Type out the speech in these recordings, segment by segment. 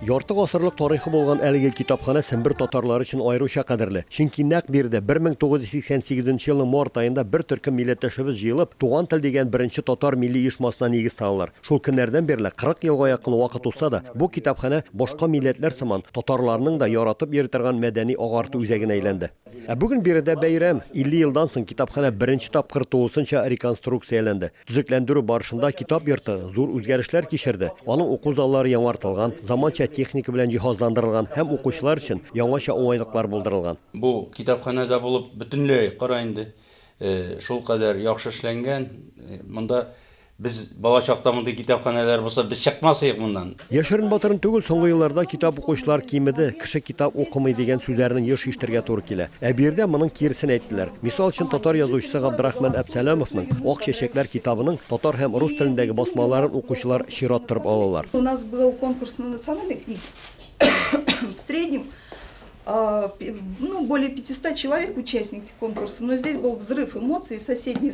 Ярты гасырлык тарихы булган әлеге китапханә Сембер татарлары өчен аеруча кадерле. Чөнки нәкъ биредә 1988 нче елның март аенда бер төркем милләттәшебез җыелып, Туган тел дигән беренче татар милли оешмасына нигез салалар. Шул көннәрдән бирле 40 елга якын вакыт узса да, бу китапханә, башка милләтләр сыман, татарларның да яратып йөри торган мәдәни-агарту үзәгенә әйләнде. Ә бүген биредә бәйрәм, 50 елдан соң китапханә беренче тапкыр тулысынча реконструкцияләнде. Төзекләндерү барышында китап йорты зур үзгәрешләр кичерде. Аның уку заллары яңартылган, заманча техника белән җиһазландырылган һәм укучылар өчен яңача уңайлыклар булдырылган. Бу китапханәдә булып бөтенләй кара инде, шулкадәр яхшы эшләнгән. Монда без бала чакта мондый китапханәләр булса, без чыкмас идек моннан. Яшерен-батырын түгел, соңгы елларда китап укучылар кимеде, кеше китап укымый дигән сүзләрне еш ишетергә туры килә. Ә биредә моның киресен әйттеләр. Мисал өчен, татар язучысы Габдрахман Әпсәләмовның Ак чәчәкләр китабының татар һәм рус телендәге басмаларын укучылар чират торып алалар. У нас был конкурс на национальной книге. В среднем, ну, более 500 человек участники конкурса, но здесь был взрыв эмоций, соседние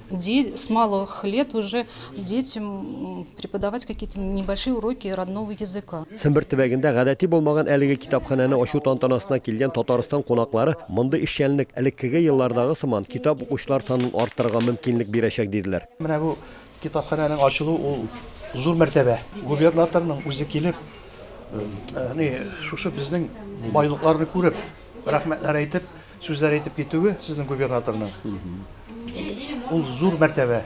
Деть с малых лет уже детям преподавать какие-то небольшие уроки родного языка. Сембер төбәгендә гадәти булмаган әлеге китапханәне ачу тантанасына килгән Татарстан кунаклары мондый эшчәнлек элеккеге еллардагы сыман китап укучылар санын арттырырга мөмкинлек бирәчәк, диделәр. Менә бу китапханәнең ачылу ул зур мәртәбә. Губернаторның үзе килеп, әни шушы безнең байлыкларны күреп, рәхмәтләр әйтеп, Сүзләр әйтеп китүе сезнең губернаторның ул зур мәртәбә.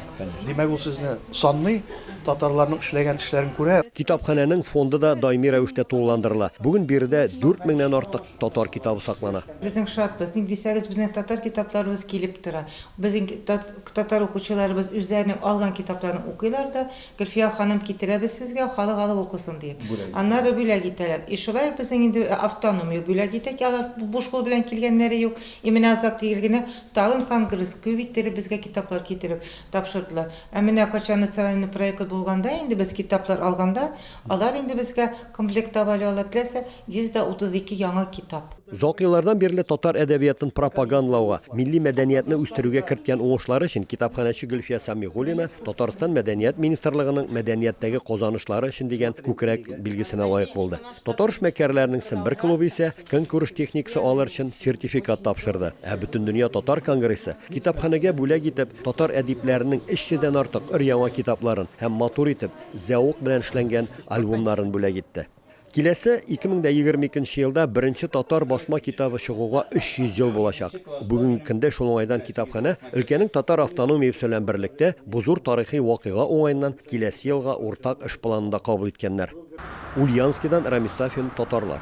Димәк, ул сезне санный, татарларның эшләгән эшләрен күрә. Китапханәнең фонды да даими рәвештә тулыландырыла. Бүген биредә дүрт меңнән артык татар китабы саклана. Безнең шатбыз, ник дисәгез, безнең татар китапларыбыз килеп тора. Безнең татар укучыларыбыз үзләренең алган китапларын укыйлар да, Гөлфия ханым, китерәбез сезгә, халык алып укысын диеп. Аннары бүләк итәләр. И шулай ук безнең инде автономия бүләк итә, алар буш кул белән килгәннәре юк. И менә Азат Тигел генә тагын конгресс күп иттереп безгә китаплар китереп тапшырдылар. Ә менә кайчан национальный проект булганда инде без китаплар алганда, алар инде безгә комплектовали алар, теләсә 132 яңа китап. Озак еллардан бирле татар әдәбиятын пропагандлауга, милли мәдәниятне үстерүгә керткән уңышлары өчен китапханәче Гөлфия Сәмигуллина Татарстан Мәдәният министрлыгының Мәдәнияттәге казанышлары өчен дигән күкрәк билгесенә лаек булды. Татар эшмәкәрләренең Сембер клубы исә көнкүреш техникасы алыр өчен сертификат тапшырды. Ә Бөтендөнья татар конгрессы китапханәгә бүләк итеп татар әдипләренең 300 дән артык өр-яңа китапларын һәм матур итеп, зәвык белән эшләнгән альбомнарын бүләк итте. Киләсе, 2022 нче елда беренче татар басма китабы чыгуга 300 ел булачак. Бүгенге көндә шул уңайдан китапханә өлкәнең татар автономиясе белән берлектә бу зур тарихи вакыйга уңаеннан киләсе елга уртак эш планын да кабул иткәннәр. Ульяновскидан Рамис Сафин, Татарлар.